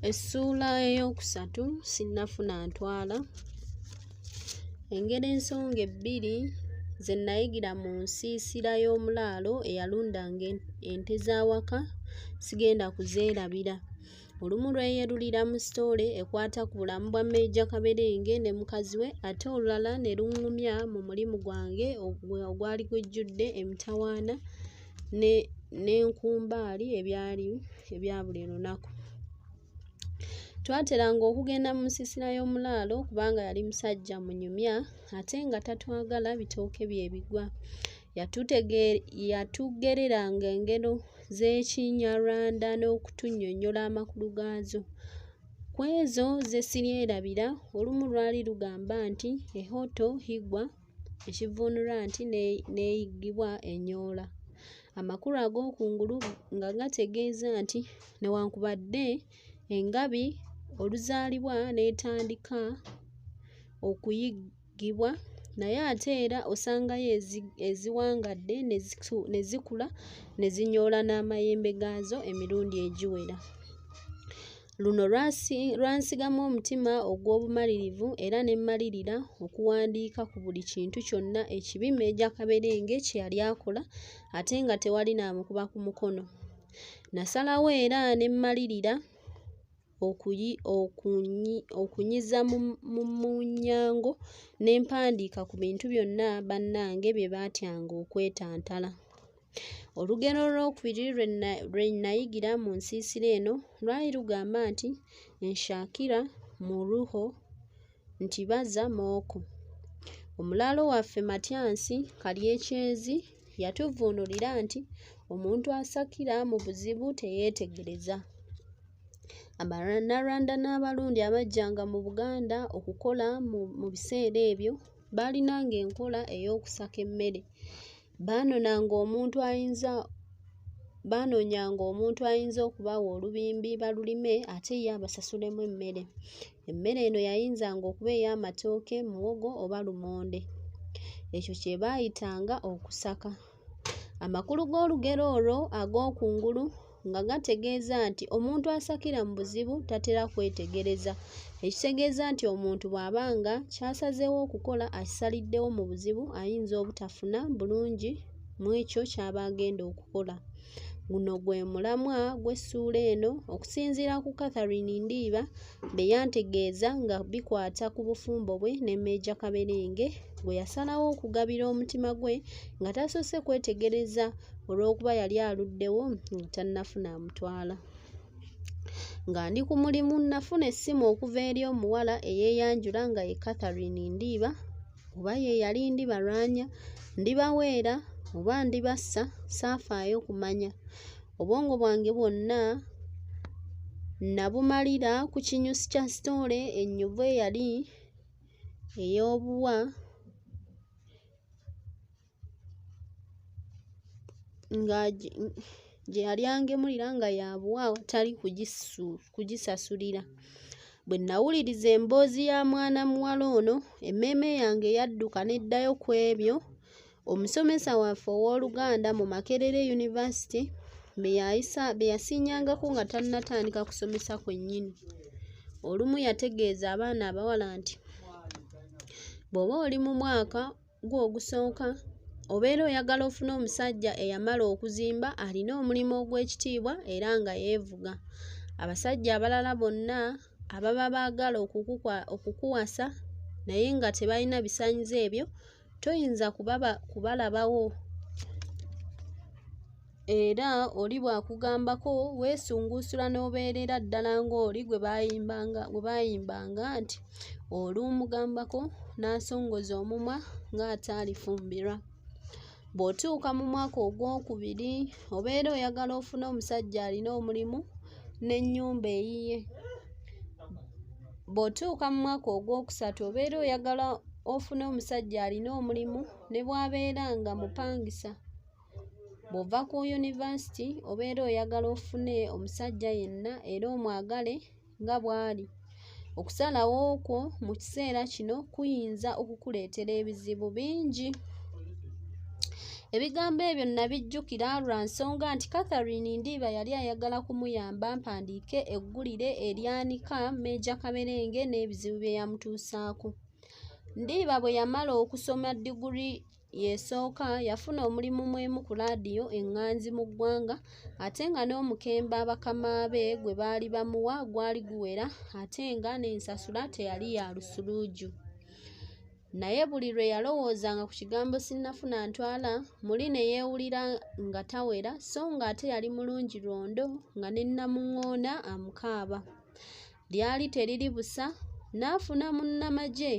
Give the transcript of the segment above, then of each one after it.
Essuula eyookusatu sinnafuna ntwala. Engeri ensonga ebbiri ze nnayigira mu nsiisira y'omulaalo eyalundanga ente z'awaka sigenda kuzeerabira. Olumu lweyerulira mu sitoole ekwata ku bulamu bwa Meeja Kaberenge ne mukazi we ate olulala ne luŋŋumya mu mulimu gwange ogwali gujjudde emitawaana ne n'enkumbaali ebyali ebya buli lunaku twateranga okugenda mu nsiisira y'omulaalo kubanga yali musajja munyumya ate nga tatwagala bitooke bye bigwa yatugereranga engero z'ekinyarwanda n'okutunnyonnyola amakulu gaazo ku ezo ze siryerabira olumu lwali lugamba nti ehoto higwa ekivvuunulwa nti n'eyiggibwa enyoola. Amakulu ag'okungulu nga gategeeza nti newankubadde engabi oluzaalibwa n'etandika okuyiggibwa naye ate era osangayo eziwangadde ne zikula ne zinyoola n'amayembe gaazo emirundi egiwera. Luno lwansigamu omutima ogw'obumalirivu era ne mmalirira okuwandiika ku buli kintu kyonna ekibi Meeja Kaberenge kye yali akola ate nga tewali n'amukuba ku mukono. Nasalawo era ne mmalirira okunyiza mu munyango ne mpandiika ku bintu byonna bannange bye baatyanga okwetantala. Olugero olwokubiri lwe nayigira mu nsiisira eno lwali lugamba nti nshakira muruho nti baza mooko. Omulaalo waffe Matyansi Kalyekyezi yatuvvuunulira nti omuntu asakira mu buzibu teyeetegereza. Abanyarwanda n'Abarundi abajjanga mu Buganda okukola mu biseera ebyo baalinanga enkola ey'okusaka emmere. Baanonanga omuntu ayinza baanoonyanga omuntu ayinza okubawa olubimbi balulime ate ye abasasulemu emmere. Emmere eno yayinzanga okuba ey'amatooke, muwogo oba lumonde. Ekyo kye baayitanga okusaka. Amakulu g'olugero olwo ag'okungulu. nga gategeeza nti omuntu asakira mu buzibu tatera kwetegereza ekitegeeza nti omuntu bw'aba nga kyasazeewo okukola akisaliddewo mu buzibu ayinza obutafuna bulungi mu ekyo ky'aba agenda okukola guno gwe mulamwa gw'essuula eno okusinziira ku catherine ndiiba bye yantegeeza nga bikwata ku bufumbo bwe ne Meeja Kaberenge gwe yasalawo okugabira omutima gwe nga tasoose kwetegereza olw'okuba yali aluddewo nga tannafuna amutwala. Nga ndi ku mulimu nnafuna essimu okuva eri omuwala eyeeyanjula nga ye Catherine Ndiiba oba ye yali ndibalwanya, ndibaweera oba ndibassa saafaayo kumanya. obwongo bwange bwonna nabumalira ku kinyusi kya sitoole ennyuvu eyali ey'obuwa nga gye yali angemulira nga yabuwa awatali kugisasulira bwe nawuliriza emboozi ya mwana muwala ono emmeeme yange yadduka n'eddayo ku ebyo Omusomesa waffe ow'oluganda mu Makerere University be yasiinyangako nga tannatandika kusomesa kwennyini. Olumu yategeeza abaana abawala nti, Bw'oba oli mu mwaka gwo ogusooka, obeera oyagala ofune omusajja eyamala okuzimba alina omulimu ogw'ekitiibwa era nga yeevuga. Abasajja abalala bonna ababa baagala okukuwasa naye nga tebalina bisaanyizo ebyo, toyinza kubaba kubalabawo era oli bw'akugambako weesunguusula n'obeerera ddala ng'oli gwe baayimbanga gwe baayimbanga nti olumugambako n'asongoza omumwa ng'ataalifumbirwa bw'otuuka mu mwaka ogwokubiri obeera oyagala ofune omusajja alina omulimu n'ennyumba eyiye Bw'otuuka mu mwaka ogwokusatu obeera oyagala ofune omusajja alina omulimu ne bw'abeera nga mupangisa. Bw'ova ku yunivasiti obeera oyagala ofune omusajja yenna era omwagale nga bw'ali. Okusalawo kwo mu kiseera kino kuyinza okukuleetera ebizibu bingi. Ebigambo ebyo nnabijjukira lwa nsonga nti Catherine Ndiiba yali ayagala kumuyamba mpandiike eggulire eryanika Meeja Kaberenge n'ebizibu bye yamutuusaako. Ndiiba bwe yamala okusoma diguli y'esooka yafuna omulimu mw'emu ku laadiyo eŋŋanzi mu ggwanga ate nga n'omukemba bakama be gwe baali bamuwa gwali guwera ate nga n'ensasula teyali ya lusuluuju. Naye buli lwe yalowoozanga ku kigambo sinnafuna ntwala muli ne yeewulira nga tawera so ng'ate yali mulungi lwondo nga ne Namuŋŋoona amukaaba. Lyali teriri busa n'afuna munnamagye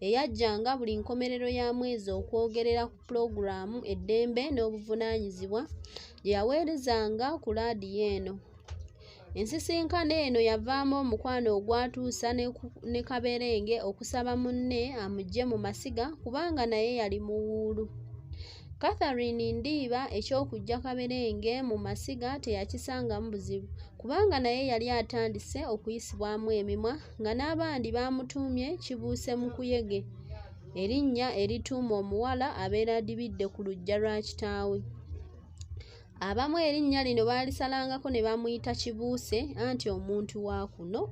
eyajjanga buli nkomerero ya mwezi okwogerera ku pulogulaamu Eddembe n'Obuvunaanyizibwa gye yaweerezanga ku laadiyo eno. Ensisinkano eno yavaamu omukwano ogwatuusa ne Kaberenge okusaba munne amuggye mu masiga kubanga naye yali muwuulu. Catherine Ndiiba eky'okuggya Kaberenge mu masiga teyakisangamu buzibu kubanga naye yali atandise okuyisibwamu emimwa nga n'abandi baamutuumye Kibuuse Mukuyege erinnya erituuma omuwala abeera adibidde ku luggya lwa kitaawe. Abamu erinnya lino baalisalangako ne bamuyita Kibuuse anti omuntu wa kuno.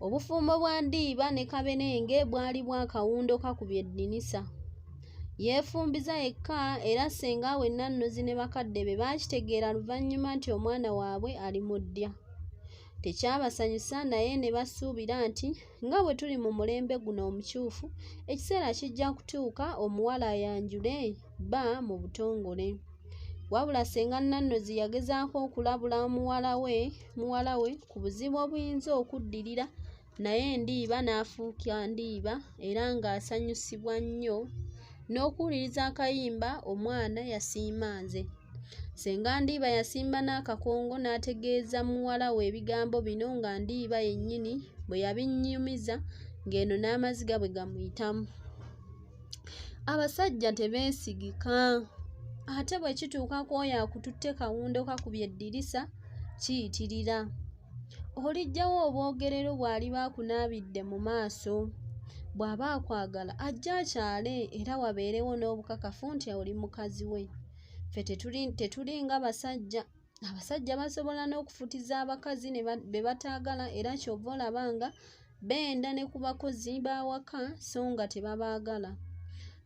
Obufumbo bwa Ndiiba ne Kabenenge bwali bwa kawundo kakubye eddinisa. Yeefumbiza yekka era ssenga we Nannozi ne bakadde be baakitegeera luvannyuma nti omwana waabwe ali mu ddya. Tekyabasanyusa naye ne basuubira nti. Nga bwe tuli mu mulembe guno omukyufu, ekiseera kijja kutuuka omuwala ayanjule bba mu butongole. Wabula ssenga Nannozi yagezaako okulabula muwala we muwala we ku buzibu obuyinza okuddirira naye Ndiiba n'afuuka Ndiiba era ng'asanyusibwa nnyo n'okuwuliriza akayimba omwana yasiima nze senga ndiiba yasimba n'akakongo n'ategeeza muwala we ebigambo bino nga ndiiba yennyini bwe yabinnyumiza ng'eno n'amaziga bwe gamuyitamu abasajja tebeesigika ate bwe kituuka ku oyo akututte kawundo kakubye eddirisa kiyitirira Oliggyawo obwogerero bw'aliba akunaabidde mu maaso. Bw'aba akwagala ajja akyale era wabeerewo n'obukakafu nti oli mukazi we. Ffe tetuli nga basajja. Abasajja basobola n'okufutiza abakazi be bataagala era ky'ova olaba nga Benda ne ku bakozi b'awaka so nga tebabaagala.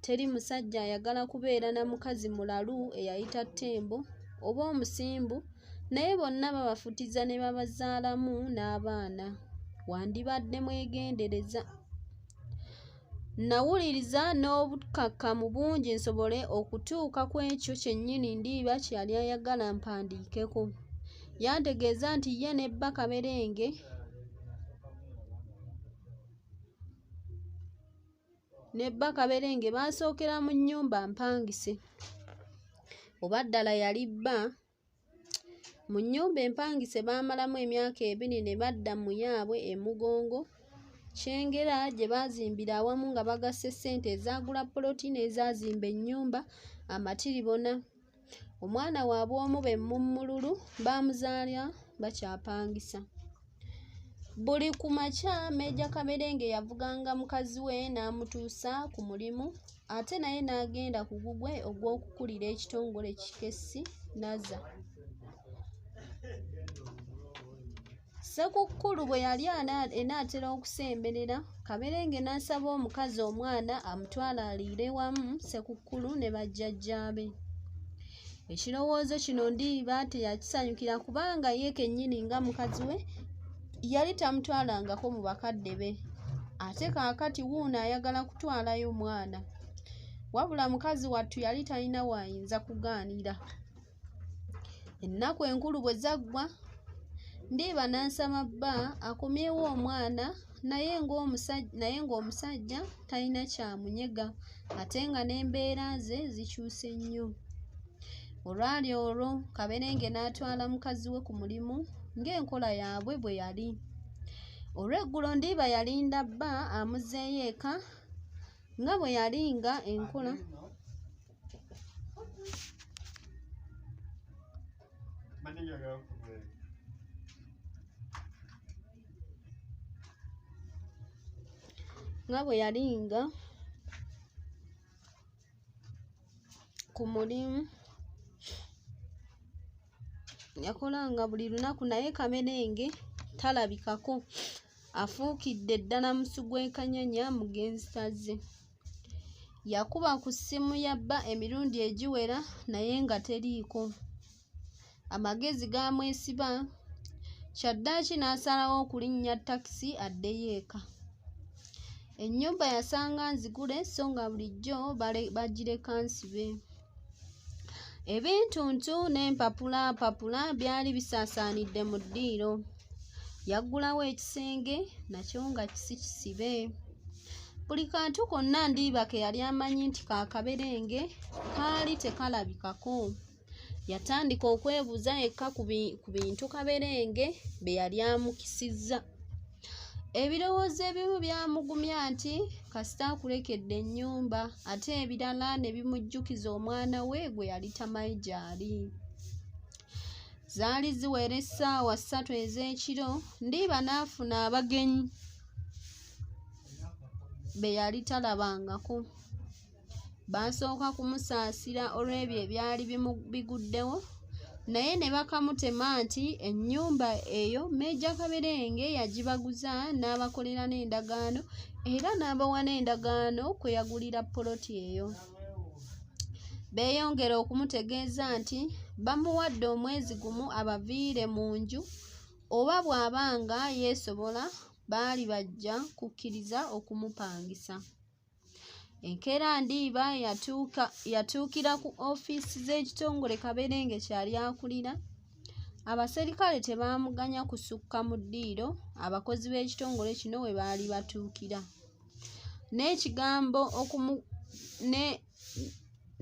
Teri musajja ayagala kubeera na mukazi mulalu eyayita ttembo oba omusimbu naye bonna babafutiza ne babazaalamu n'abaana. Wandibadde mwegendereza. Nnawuliriza n'obukkakkamu bungi nsobole okutuuka ku ekyo kyennyini Ndiiba kye yali ayagala mpandiikeko. Yantegeeza nti ye ne bba Kaberenge ne bba Kaberenge baasookera mu nnyumba mpangise. Oba ddala yali bba? Mu nnyumba empangise baamalamu emyaka ebiri ne badda mu yaabwe e Mugongo, Kyengera gye baazimbira awamu nga bagasse ssente ezaagula poloti n'ezaazimba ennyumba amatiribona. Omwana waabwe omu be Mumululu baamuzaala bakyapangisa. Buli ku makya Meeja Kaberenge yavuganga mukazi we n'amutuusa ku mulimu ate naye n'agenda ku gugwe ogw'okukulira ekitongole kikessi Naza. Ssekukkulu bwe yali enaatera okusemberera, Kaberenge n'asaba omukazi omwana amutwale aliire wamu Ssekukkulu ne bajjajjaabe. Ekirowoozo kino Ndiiba teyakisanyukira kubanga ye kennyini nga mukazi we yali tamutwalangako mu bakadde be ate kaakati wuuno ayagala kutwalayo omwana. Wabula mukazi wattu yali talina waayinza kugaanira. Ennaku enkulu bwe zaggwa, Ndiiba n'asaba bba akomyewo omwana naye ng'omusajja talina kyamunyega ate nga n'embeera ze zikyuse nnyo olwali olwo kaberenge n'atwala mukazi we ku mulimu ng'enkola yaabwe bwe yali olw'eggulo ndiiba yalinda bba amuzeeyo eka nga bwe yali nga enkola Manilya ga kubwe. nga bwe yalinga ku mulimu yakolanga buli lunaku naye kamerenge talabikako afuukidde ddala musu gw'ekanyanya mugenzi taze Yakuba ku ssimu ya bba emirundi egiwera naye nga teriiko. Amagezi gaamwesiba, kyaddaaki n'asalawo okulinnya takisi addeyo eka. Ennyumba yasanga nzigule so nga bulijjo bagireka nsibe. ebintuntu n'empapula mpapula byali bisaasaanidde mu ddiiro yaggulawo ekisenge nakyo nga kisi kisibe buli kantu konna ndiiba ke yali amanyi nti kakaberenge kaali tekalabikako yatandika okwebuuza yekka ku bintu kaberenge bye yali amukisizza Ebirowoozo ebimu byamugumya nti kasita akulekedde ennyumba ate ebirala ne bimujjukiza omwana we gwe yali tamanyi gy'ali. Zaali ziwera essaawa ssatu ez'ekiro Ndiiba n'afuna abagenyi be yali talabangako. baasooka kumusaasira olw'ebyo ebyali biguddewo naye ne bakamutema nti ennyumba eyo meeja kaberenge yagibaguza n'abakolera n'endagaano era n'abawa n'endagaano kwe yagulira poloti eyo beeyongera okumutegeeza nti bamuwadde omwezi gumu abaviire mu nju oba bw'aba nga yeesobola baali bajja kukkiriza okumupangisa enkeera ndiiba yatuuka yatuukira ku ofiisi z'ekitongole kaberenge kyali akulira abaserikale tebaamuganya kusukka mu ddiiro abakozi b'ekitongole kino we baali batuukira n'ekigambo okumu ne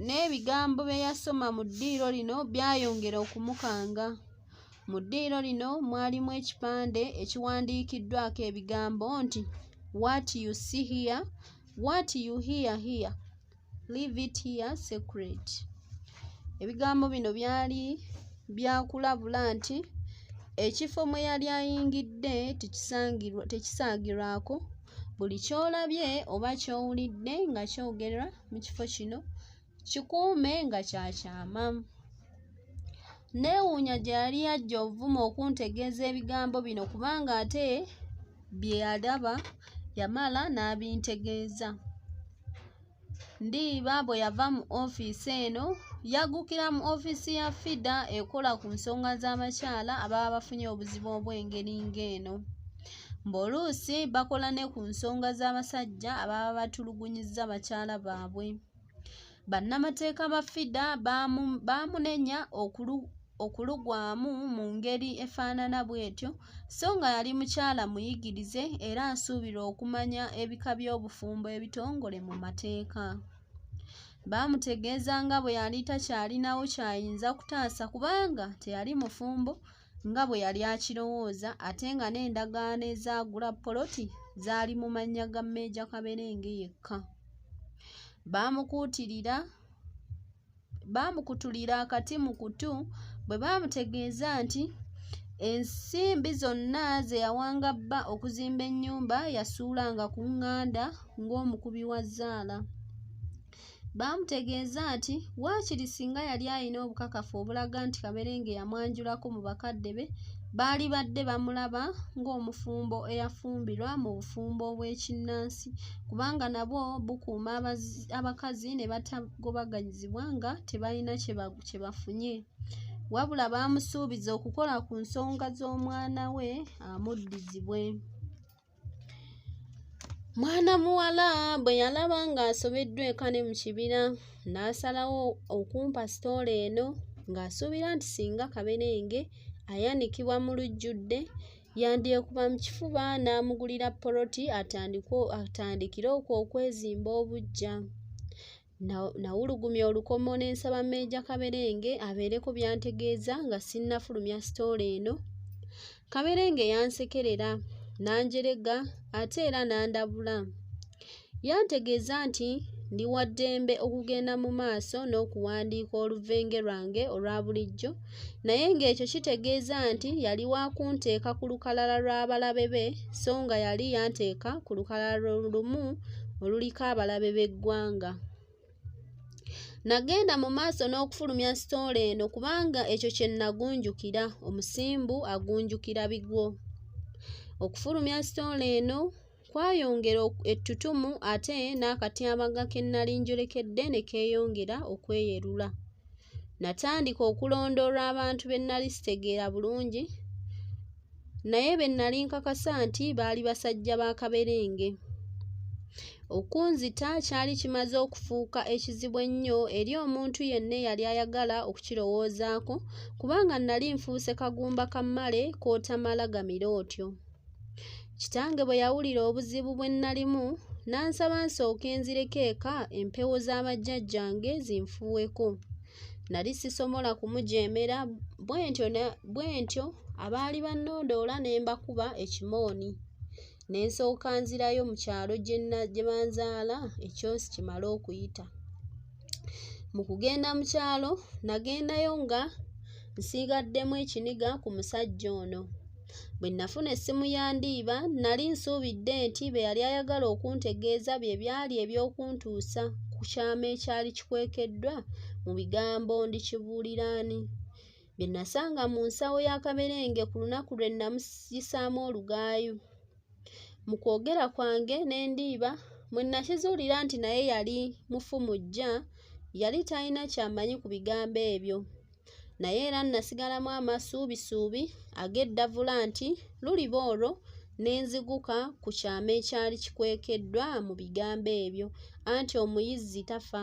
n'ebigambo bye yasoma mu ddiiro lino byayongera okumukanga. Mu ddiiro lino mwalimu ekipande ekiwandiikiddwako ebigambo nti What you see here, what you hear here, leave it here secret. Ebigambo bino byali byakulabula nti ekifo mwe yali ayingidde tekisaagirwako buli ky'olabye oba ky'owulidde nga kyogerwa mu kifo kino kikuume nga kya kyama neewuunya gye yali yajja ovuma okuntegeeza ebigambo bino kubanga ate bye yalaba yamala n'abintegeeza ndiiba bwe yava mu ofiisi eno yaggukira mu ofiisi ya fida ekola ku nsonga z'abakyala ababa bafunye obuzibu obw'engeri ng'eno Mb'oluusi bakola ne ku nsonga z'abasajja ababa batulugunyizza bakyala baabwe. Bannamateeka ba FIDA baamunenya okulugwamu mu ngeri efaanana bw'etyo so nga yali mukyala muyigirize era asuubirwa okumanya ebika by'obufumbo ebitongole mu mateeka. Baamutegeeza nga bwe yali takyalinawo ky'ayinza kutaasa kubanga teyali mufumbo nga bwe yali akirowooza ate nga n'endagaano ezaagula poloti zaali mu mannya ga meeja kaberenge yekka baamukuutirira baamukutulira akati mu kutu bwe baamutegeeza nti ensimbi zonna ze yawanga bba okuzimba ennyumba yasuulanga ku nganda ng'omukubi wa zzaala Baamutegeeza nti waakiri singa yali alina obukakafu obulaga nti Kaberenge yamwanjulako mu bakadde be, baalibadde bamulaba ng'omufumbo eyafumbirwa mu bufumbo obw'ekinnansi kubanga nabwo bukuuma abakazi ne batagobaganyizibwa nga tebalina kye bafunye. Wabula baamusuubiza okukola ku nsonga z'omwana we amuddizibwe. Mwana muwala bwe yalaba ng'asobeddwa eka ne mu kibira n'asalawo okumpa sitoola eno ng'asuubira nti singa kaberenge ayanikibwa mu lujjudde yandyekuba mu kifuba n'amugulira poloti atandikire okwo okwezimba obuggya. Nawulugumya olukomo ne nsaba Meeja Kaberenge abeereko byantegeeza nga sinnafulumya sitoola eno. Kaberenge yansekerera n'anjerega ate era n'andabula. Yantegeeza nti ndi wa ddembe okugenda mu maaso n'okuwandiika oluveenge lwange olwa bulijjo naye ng'ekyo kitegeeza nti yali wa kunteeka ku lukalala lw'abalabe be so nga yali yanteeka ku lukalala lumu oluliko abalabe b'eggwanga nagenda mu maaso n'okufulumya sitoola eno kubanga ekyo kye nagunjukira omusimbu agunjukira bigwo okufulumya sitoola eno Kwayongera ettutumu ate n'akatyabaga ke nnali njolekedde ne keeyongera okweyerula. Natandika okulondoola abantu be nnali sitegeera bulungi naye be nnali nkakasa nti baali basajja ba kaberenge. Okunzita kyali kimaze okufuuka ekizibu ennyo eri omuntu yenna eyali ayagala okukirowoozaako kubanga nnali nfuuse kagumba ka mmale k'otamala gamira otyo. Kitange bwe yawulira obuzibu bwe nnalimu n'ansaba nsooke nzireko eka empewo za bajjajjange zinfuuweko. Nali sisomola kumujeemera bwentyo bwentyo abaali bannondoola ne mbakuba ekimooni ne nsooka nzirayo mu kyalo gye banzaala ekyosi kimale okuyita. Mu kugenda mu kyalo nagendayo nga nsiigaddemu ekiniga ku musajja ono. Bwe nnafuna essimu ya Ndiiba, nnali nsuubidde nti be yali ayagala okuntegeeza bye byali eby'okuntuusa ku kyama ekyali kikwekeddwa mu bigambo ndikibuulira ani bye nasanga mu nsawo ya kaberenge ku lunaku lwe nnamusisaamu olugaayu. Mu kwogera kwange ne Ndiiba, mwe nakizuulira nti naye yali mufu mu ggya, yali talina ky'amanyi ku bigambo ebyo. naye era nnasigalamu amasuubisuubi ag'eddavula nti luliba olwo ne nziguka ku kyama ekyali kikwekeddwa mu bigambo ebyo anti omuyizzi tafa